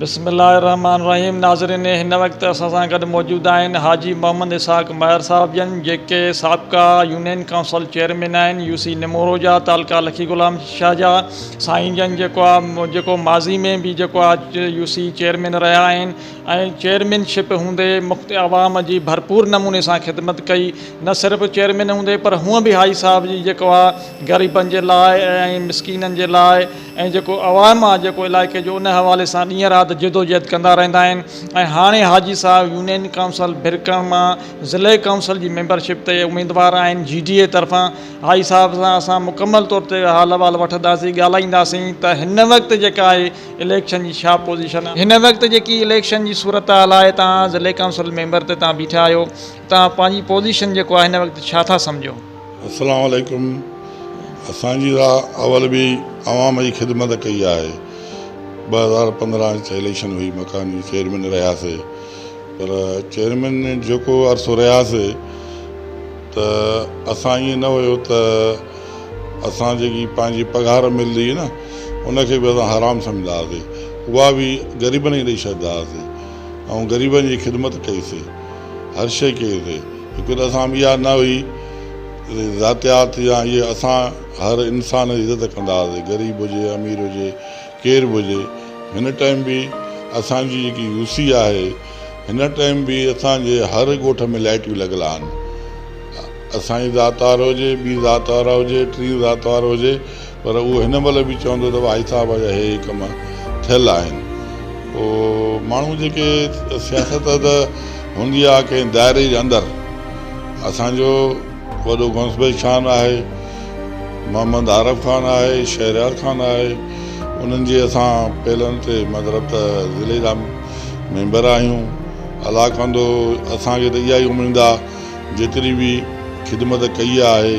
بسم الله الرحمٰن الرحيم ناظرين هن وقت اسان سان گڏ موجود آهن حاجي محمد اسحاق مهر صاحب جن جيڪي سابقا يونين ڪائونسل چيئرمين آهن يو سي نمورو جا تعلقه لکي غلام شاهه جا سائين جن جيڪو آهي جيڪو ماضي ۾ به جيڪو آهي يو سي چيئرمين رهيا آهن ۽ چيئرمين شپ هوندي مخت عوام جي ڀرپور نموني سان خدمت ڪئي نه صرف چيئرمين هوندي پر هونء به حاجي صاحب جي جيڪو آهي غريبن جي لاء ۽ مسڪينن جي لاء ۽ جيڪو عوام آ جيڪو علائقي جو ان حوالي سان ڏينهن رات جدوجهد ڪندا رهندا آهن ۽ هاڻي حاجي صاحب يونين ڪائونسل برڪڻ مان ضلعي ڪائونسل جي ميمبر شپ تي اميدوار آهن جي ڊي اي طرفان حاجي صاحب سان اسان مڪمل طور تي حال احوال وٺنداسين ڳالهائينداسين ته هن وقت جيڪا آهي اليڪشن جي ڇا پوزيشن آهي هن وقت جيڪي اليڪشن جي صورتحال آهي توهان ضلعي ڪائونسل ميمبر تي توهان بيٺا آهيو توهان پنهنجي پوزيشن جيڪو آهي هن وقت ڇا ٿا سمجهو. اسلام عليڪم اسان جي راء اول به عوام جي خدمت ڪئي آهي ٻه هزار پندرهن اچ اليڪشن هئي مڪان جي چيئرمين رهياسي پر چيئرمين جيڪو عرصو رهياسي ته اسان ائين نه هيو ته اسان جيڪي پنهنجي پگهار ملندي هئي نه ان کي به اسان حرام سمجهندا هئاسي اها به غريبن کي ڏئي ڇڏيندا هئاسي ۽ غريبن جي خدمت ڪئي سي هر شيء ڪئي اٿئي. هڪ ته اسان ۾ اها نه هئي ته ذاتيات يا اهي اسان هر انسان جي عزت ڪندا هئاسين غريب هجي امير هجي ڪير به هجي هن ٽائيم به اسان جي جيڪي يو سي آهي هن ٽائيم به اسان جي هر ڳوٺ ۾ لائٽيون لڳل آهن اسان جي ذات وارو هجي ٻي ذات وارا هجي ٽي ذات وارو هجي پر اهو هن مهل به چوندو ته ڀائي صاحب جا هي ڪم ٿيل آهن. پوء ماڻهو جيڪي سياست ته هوندي آهي ڪنهن دائري جي اندر. اسان جو وڏو غوث بيگ خان آهي، محمد عارف خان آهي، شهريار خان آهي، انهن جي اسان پيلن تي مطلب ته ضلعي جا ميمبر آهيون. الله ڪندو اسان کي ته اها ئي اميد آهي جيتري به خدمت ڪئي آهي.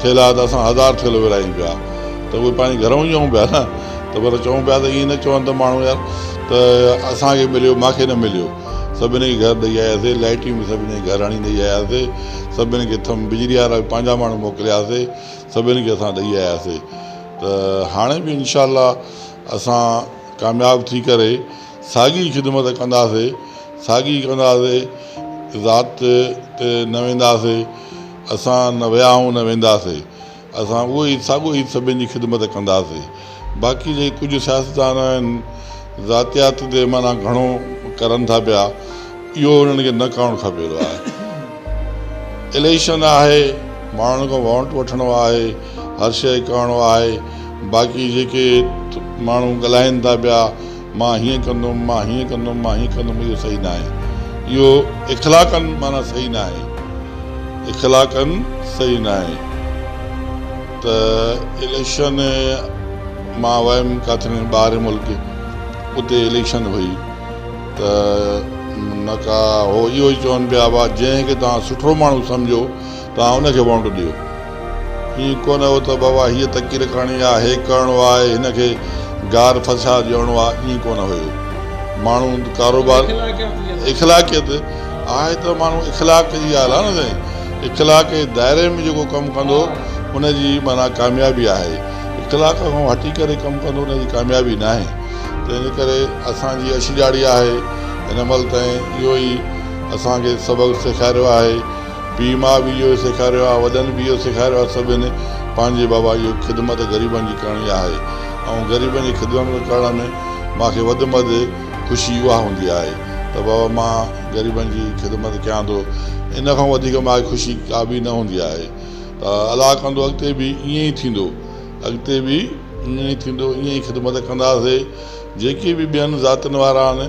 ٿيلها ته اسان هزار ٿيلهو ورهايون پيا ته اهي پنهنجي گهرئون چئون پيا نه ته پر چئون پيا ته ائين نه چون ته ماڻهو يار ته اسان کي مليو مان کي نه مليو سڀني کي گهر ڏئي آياسي لائٽيون به سڀني کي گهر هڻي ڏئي آياسي سڀني کي ٿم بجلي وارا به پنهنجا ماڻهو موڪلياسي سڀني کي اسان ڏئي آياسي ته هاڻي به انشاء الله اسان ڪامياب ٿي ڪري ساڳي خدمت ڪنداسي ساڳي ڪنداسي ذات تي نه وينداسي اسان نه ويا آهيون نه وينداسي، اسان اهو ئي ساڳيو هيت سڀن جي خدمت ڪنداسي. باقي جيڪي ڪجهه سياستدان آهن ذاتيات تي معنيٰ گهڻو ڪرن ٿا پيا اهو انهن کي نه ڪرڻ کپي ٿو آهي اليڪشن آهي ماڻهن کان ووٽ وٺڻو آهي هر شيء ڪرڻو آهي باقي جيڪي ماڻهو ڳالهائين ٿا پيا مان هيئن ڪندم، مان هيئن ڪندم، مان هيئن ڪندم اهو صحيح ناهي. اهو اخلاقاً معنيٰ صحيح ناهي. اخلاقاً صحيح ناهي ته اليڪشن مان ويم ڪاٿي ٻاهر ملڪ اتي اليڪشن هئي ته نڪا هو اهو ئي چون پيا وا جنهن کي توهان سٺو ماڻهو سمجهو توهان ان کي وونٽ ڏيو. ائين ڪونه هو ته بابا هيء تقرير ڪرڻي آ، هي ڪرڻو آ، هن کي گار ڦساء ڏيڻو آ، ائين ڪونه هيو. ماڻهو ڪاروبار اخلاقيت آهي ته ماڻهو اخلاق جي ڳالهه آ نه سائين، اخلاق جي دائري ۾ جيڪو ڪم ڪندو ان جي معنيٰ ڪاميابي آهي، اخلاق کان هٽي ڪري ڪم ڪندو ان جي ڪاميابي ناهي. تنهنجي ڪري اسان جي اڇ ڄاڙي آهي هن مهل تائين اهو ئي اسان کي سبق سيکاريو آهي. پيء ماء به اهو ئي سيکاريو آهي وڏن به اهو سيکاريو آهي سڀني پنهنجي بابا اهو ئي خدمت غريبن جي ڪرڻي آهي ۽ غريبن جي خدمت ڪرڻ ۾ مان کي وڌ مد خوشي اها هوندي آهي ته بابا مان غريبن جي خدمت ڪيان ٿو ان کان وڌيڪ مان کي خوشي ڪا به نه هوندي آهي ته الله ڪندو اڳتي به ائين ئي ٿيندو اڳتي به ائين ئي ٿيندو ائين ئي خدمت ڪنداسي جيڪي به ٻين ذاتين وارا آهن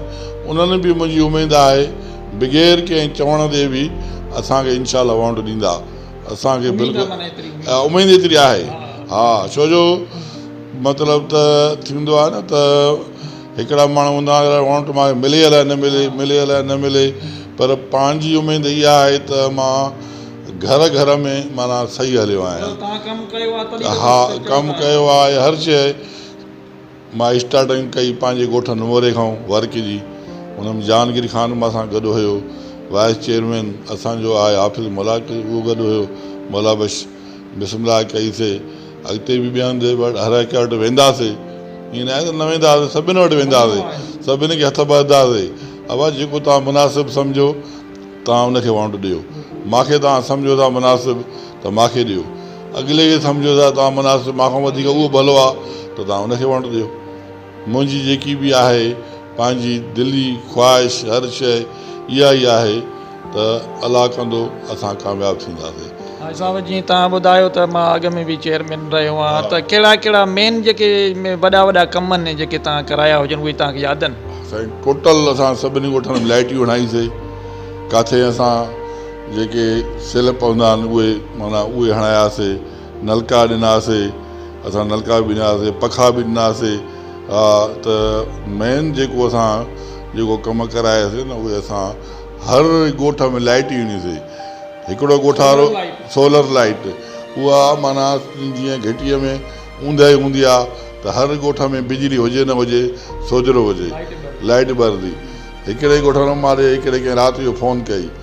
انهن به منهنجي اميد آهي بغير ڪنهن چوڻ جي به اسان کي انشاء الله وونٽ ڏيندا اسان کي بلڪل اميد ايتري آهي ها ڇو جو مطلب ته ٿيندو آهي نه ته هڪڙا ماڻهو هوندا آهن وونٽ مان ملي الائي نه ملي ملي الائي نه ملي پر پنهنجي اميد اها آهي ته مان گهر گهر ۾ معنيٰ صحيح هليو آهيان ها ڪم ڪيو آهي هر شيء مان اسٽارٽنگ ڪئي پنهنجي ڳوٺ نموري کان ورڪ جي ان ۾ جهانگير خان به اسان گڏ هيو وائيس چيئرمين اسان جو آهي حافظ ملاڪ اهو گڏ هيو مولا بخش بسم الله ڪئي سي اڳتي به ٻين هنڌ وٽ هر هڪ وٽ ويندا سي ائين نه آهي ته نه ويندا هئاسي سڀن وٽ ويندا هئاسي سڀني کي هٿ ٻڌندا هئاسي ابا جيڪو توهان مناسب سمجهو توهان ان کي وانٽ ڏيو مانکي توهان سمجهو ٿا مناسب ته مان کي ڏيو. اڳلي کي سمجهيو ته توهان مناسب، مان کان وڌيڪ اهو ڀلو آ ته توهان ان کي وڻ ڏيو. منهنجي جيڪي به آهي پنهنجي دلي خواهش هر شيء اها ئي آهي ته الله ڪندو اسان ڪامياب ٿينداسين. حاجي صاحب جيئن توهان ٻڌايو ته مان اڳ ۾ به چيئرمين رهيو آهيان ته ڪهڙا ڪهڙا مين جيڪي وڏا وڏا ڪم آهن جيڪي توهان ڪرايا هجن اهي توهان کي ياد آهن. سائين ٽوٽل اسان سڀني ڳوٺن ۾ لائٽيون هڻائيسي ڪاٿي اسان. جيڪي سيل پوندا آهن اهي معنيٰ اهي هڻاياسي نلڪا ڏناسي اسان نلڪا به ڏناسي پکا به ڏناسي ها ته مين جيڪو اسان جيڪو ڪم ڪراياسي نه اهي اسان هر ڳوٺ ۾ لائٽ ڏني سي هڪڙو ڳوٺارو سولر لائٽ اها معنيٰ جيئن گهٽيء ۾ اونداهي هوندي آهي ته هر ڳوٺ ۾ بجلي هجي نه هجي سوجهرو هجي لائٽ ٻرندي هڪڙي ڳوٺ واري هڪڙي ڪنهن رات جو فون ڪئي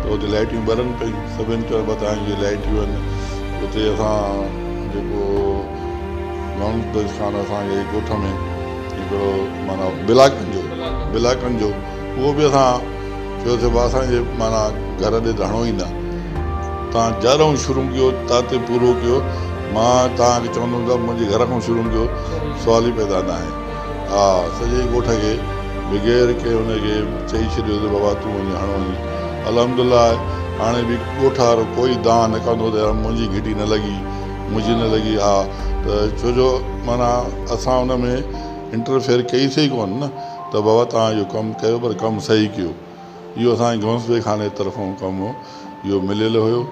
ته اتي لائٽيون ٻرن پيون سڀني طرف ٻڌائين جي لائٽيون آهن اتي اسان جيڪو گاؤنڊ بيس کان اسان جي ڳوٺ ۾ هڪڙو معنيٰ بلاڪن جو بلاڪن جو اهو به اسان چيو سي اسان جي معنيٰ گهر ڏي ڌڻو ئي نه تان جارون شروع ڪيو تان تي پورو ڪيو مان تان کي چوندم ته منهنجي گهر کان شروع ڪيو سوال ئي پيدا نه آهي ها سڄي ڳوٺ کي بغير ڪنهن ان کي چئي ڇڏيو ته بابا تون وڃي هڻ وڃي الحمد الله آهي هاڻي به ڳوٺ وارو ڪوئي دانهن نه ڪندو ته يار منهنجي گهٽي نه لڳي منهنجي نه لڳي ها ته ڇو جو معنيٰ اسان ان ۾ انٽرفيئر ڪئي سئي ڪونه نه ته بابا توهان اهو ڪم ڪيو پر ڪم سهي ڪيو اهو اسان کي گهونسلي خاني طرفون ڪم اهو مليل هيو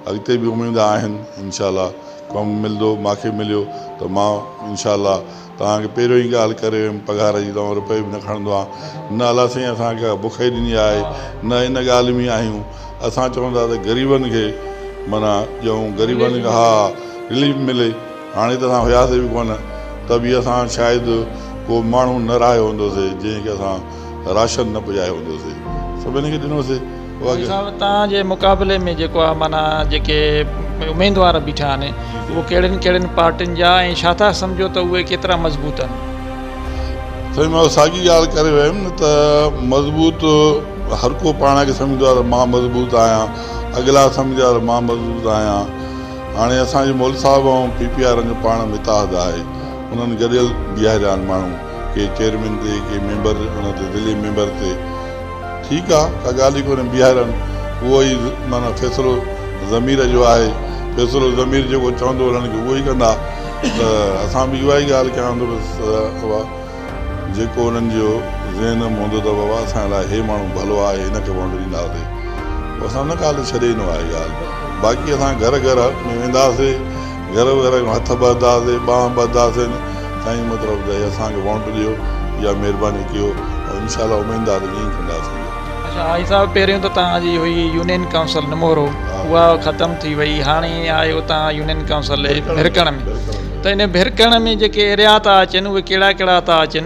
اڳتي به اميد آهن انشاء الله ڪم ملندو ماکي مليو ته مان انشاء الله توهان کي پهريون ئي ڳالهه ڪري ويم پگهار جي توهان روپيه به نه کڻندو آهان نه الله سائين اسان کي ڪا بک ئي ڏني آهي نه ان ڳالهه ۾ آهيون اسان چون ٿا ته غريبن کي معنيٰ ڏيون غريبن کي ها رليف ملي هاڻي ته اسان هياسي به ڪونه ته به اسان شايد ڪو ماڻهو نه رهايو هوندو سي جنهن کي اسان راشن نه پڄايو ويندو سي سڀني کي ڏنو سي. والي صاحب توهان جي مقابلي ۾ جيڪو آ معنيٰ جيڪي اميدوار بيٺا آهن اهي ڪهڙين ڪهڙين پارٽين جا ۽ ڇا ٿا سمجهو ته اهي ڪيترا مضبوط آهن؟ سائين مان ساڳي ڳالهه ڪري ويم نه ته مضبوط هر ڪو پاڻ کي سمجهندو آهي ته مان مضبوط آهيان اڳلا سمجهندا ته مان مضبوط آهيان هاڻي اسان جي مولوي صاحب ۽ پي پي آر ان جو پاڻ متحد آهي انهن گڏيل بيهاريا آهن ماڻهو ڪي چيئرمين تي ڪي ميمبر ان تي ضلعي ميمبر تي ٺيڪ آ ڪا ڳالهه ئي ڪونهي بيهارن اهو ئي معنيٰ فيصلو ضمير جو آهي فيصلو ضمير جيڪو چوندو انهن کي اهو ئي ڪندا ته اسان به اها ئي ڳالهه ڪيان ته بس بابا جيڪو انهن جو ذهن م هوندو ته بابا اسان لاء هي ماڻهو ڀلو آهي هن کي وونٽ ڏينداسي اسان ان ڳالهه تي ڇڏي ئي نو آهي ڳالهه باقي اسان گهر گهر ۾ وينداسي گهر وغيره کان هٿ ٻڌاسين ٻانهن ٻڌاسين سائين مطلب ته اسان کي وونٽ ڏيو يا مهرباني ڪيو ۽ ان شاء الله اميد آ ته ائين ئي ڪنداسين. اچا حاجي صاحب پهريون ته توهان جي هئي يونين ڪائونسل نمورو اها ختم ٿي وئي هاڻي آيو توهان يونين ڪائونسل ڀرڪڻ ۾ ته ان ڀرڪڻ ۾ جيڪي ايريا ٿا اچن اهي ڪهڙا ڪهڙا ٿا اچن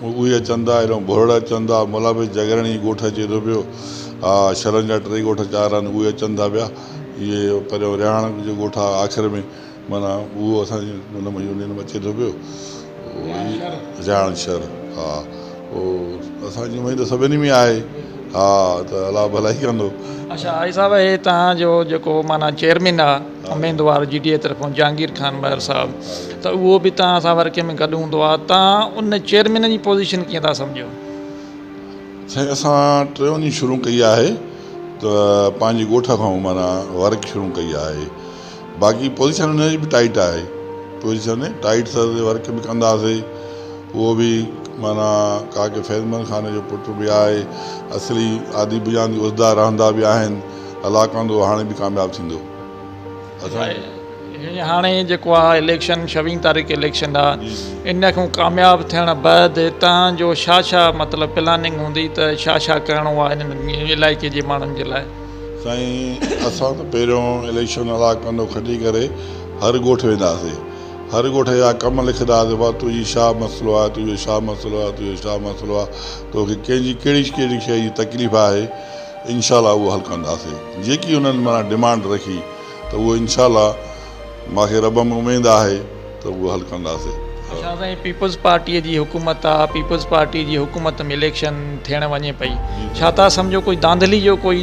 مون ڳوهي اچن دا ايڏهون ڀرڙ اچن دا ملا به جگرڻي ڳوٺ اچي ٿو پيو آ شھرن جا ٽي ڳوٺ چار آھن اهي اچن ٿا پيا اهي پريون رهاڻ جو ڳوٺ آ آخر ۾ معنيٰ اهو اسان جي ان ۾ يونين ۾ اچي ٿو پيو رهاڻ شھر ها او اسان جي اميد سڀني ۾ آهي ها ته الله ڀلائي ڪندو اڇا آھي صاحب هي توهان جو جيڪو معنيٰ چيئرمين آ اميدوار جي ڊي اي طرفان جهانگير خان مهر صاحب ته اهو به تان سان ورڪي ۾ گڏ هوندو آ تان ان چيئرمين جي پوزيشن ڪيئن ٿا سمجهو؟ سائين اسان ٽي وڃي شروع ڪئي آهي ته پنهنجي ڳوٺ کان معنيٰ ورڪ شروع ڪئي آهي باقي پوزيشن ان جي به ٽائيٽ آهي پوزيشن ٽائيٽ سر تي ورڪ به ڪنداسي اهو به معنيٰ ڪاڪي فيض محمد خان جو پٽ به آهي اصلي آدي بجان جي عهديدار رهندا به آهن الله ڪندو هاڻي به ڪامياب ٿيندو اسان جي هاڻي جيڪو آ اليڪشن شوين تاريخ اليڪشن آ ان کان ڪامياب ٿيڻ بعد هتان جو شا شا مطلب پلاننگ هوندي ته شا شا ڪرڻو آ ان علائقي جي ماڻهن جي لاء سائين اسان ته پهريون اليڪشن الله ڪندو کٽي ڪري هر ڳوٺ ويندا سي هر ڳوٺ جا ڪم لکندا سي بابا تنهنجي شا مسئلو آ تنهنجو شا مسئلو آ تنهنجو شا مسئلو آ توکي ڪنهنجي ڪهڙي ڪهڙي شئي جي تڪليف آهي انشاء الله اهو حل ڪنداسين جيڪي انهن معنيٰ ڊمانڊ رکي ته اهو انشاء الله مان کي رب ۾ اميد آهي ته اهو حل ڪنداسين. شاهه سائين پيپلز پارٽي جي حڪومت آ پيپلز پارٽي جي حڪومت ۾ اليڪشن ٿيڻ وڃي پئي ڇا تان سمجهو ڪجهه ڌانڌلي جو ڪوئي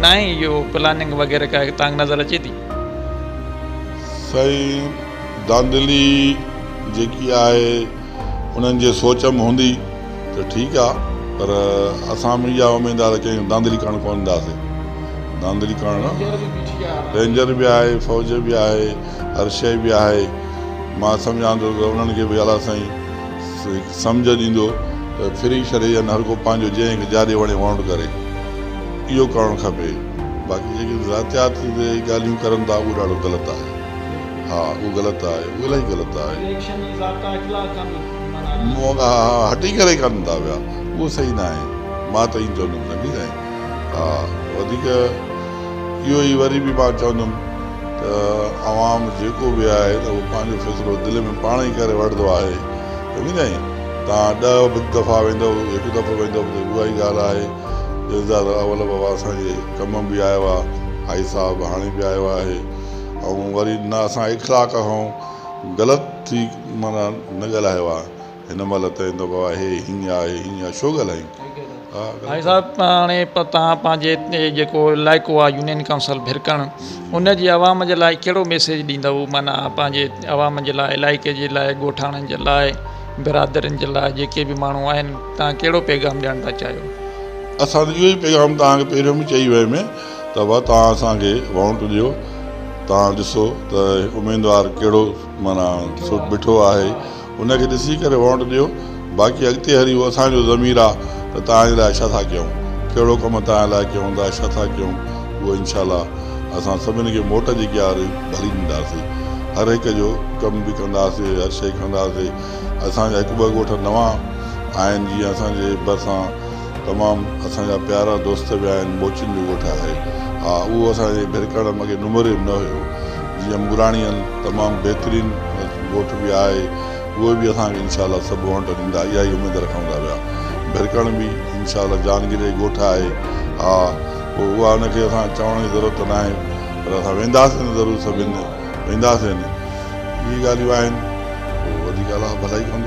ناهي اهو پلاننگ وغيره ڪا تان نظر اچي ٿي. سائين ڌانڌلي جيڪي آهي. انهن جي سوچ م هوندي ته ٺيڪ آ پر اسان م اها اميد آ ته ڪنهن ڌانڌلي ڪرڻ ڪونه ڏينداسين. ڌانڌلي ڪرڻ رينجر به آهي فوج به آهي هر شئي به آهي مان سمجهان ٿو ته انهن کي به اعليٰ سائين هڪ سمجهه ڏيندو ته ڦري ڇڏي ڏين هر ڪو پنهنجو جنهن کي جاڏي وڻي ووٽ ڪري اهو ڪرڻ کپي باقي جيڪي ذاتيات تي ڳالهيون ڪرن ٿا اهو ڏاڍو غلط آهي. ها اهو غلط آهي اهو الائي غلط آهي. اليڪشن جي ضابطا اخلاق کان به منهن ڏاڍا آهن. ها ها هٽي ڪري ڪن ٿا پيا اهو صحيح نه آهي مان ته ائين چوندم سنگي سائين ها وڌيڪ اهو ئي وري به مان چوندم ته عوام جيڪو به آهي ته اهو پنهنجو فيصلو دل ۾ پاڻ ئي ڪري وٺندو آهي سنگي سائين توهان ڏهه به دفعا ويندؤ هڪ دفعو ويندؤ ته اها ئي ڳالهه آهي جلدزاده اول بابا اسان جي ڪم به آيو آهي هائي صاحب هاڻي به آيو آهي. ۽ وري نه اسان اخلاق کان غلط ٿي معنيٰ نه ڳالهايو آهي هن مهل تائين ته بابا هي هيئن آهي هيئن آهي ڇو ڳالهائين سائين صاحب هاڻي توهان پنهنجي هتي جيڪو علائقو آهي يونين ڪائونسل ڀرڪڻ ان جي عوام جي لاء ڪهڙو ميسيج ڏيندؤ معنيٰ پنهنجي عوام جي لاء علائقي جي لاء ڳوٺاڻن جي لاء برادرين جي لاء جيڪي به ماڻهو آهن تهان ڪهڙو پيغام ڏيڻ ٿا چاهيو اسان ته اهو ئي پيغام تهان کي پهريون به چئي ويم ته وه توهان اسان کي وونٽ ڏيو توهان ڏسو ته اميدوار ڪهڙو معنيٰ سٺ بٺو آهي ان کي ڏسي ڪري وونٽ ڏيو باقي اڳتي هلي اهو اسان جو ضمير آ ته توهان جي لاء ڇا ٿا ڪيون ڪهڙو ڪم توهان جي لاء ڪيون ٿا ڇا ٿا ڪيون اهو انشاء الله اسان سڀن کي موٽ جي ڪياري ڀلي ڏينداسي هر هڪ جو ڪم به ڪنداسي هر شئي ڪنداسي اسان جا هڪ ٻه ڳوٺ نوان آهن جيئن اسان جي ڀرسان تمام اسان جا پيارا دوست به آهن موچين جو ڳوٺ آهي ها اهو اسان جي ڀرڪڙ مڳي نمري نه هيو جيئن مراڻيل تمام بهترين ڳوٺ به آهي اهو به اسان کي انشاء الله سڀ وانٽ ڏيندا اها ئي اميد رکون ٿا پيا ڀرڪڻ به انشاء الله جان گري ڳوٺ آهي ها پوء اها ان کي اسان چوڻ جي ضرورت ته ناهي پر اسان وينداسين ضرور سڀ هند وينداسين اهي ڳالهيون آهن پوء وڌيڪ الله ڀلائي ڪندو.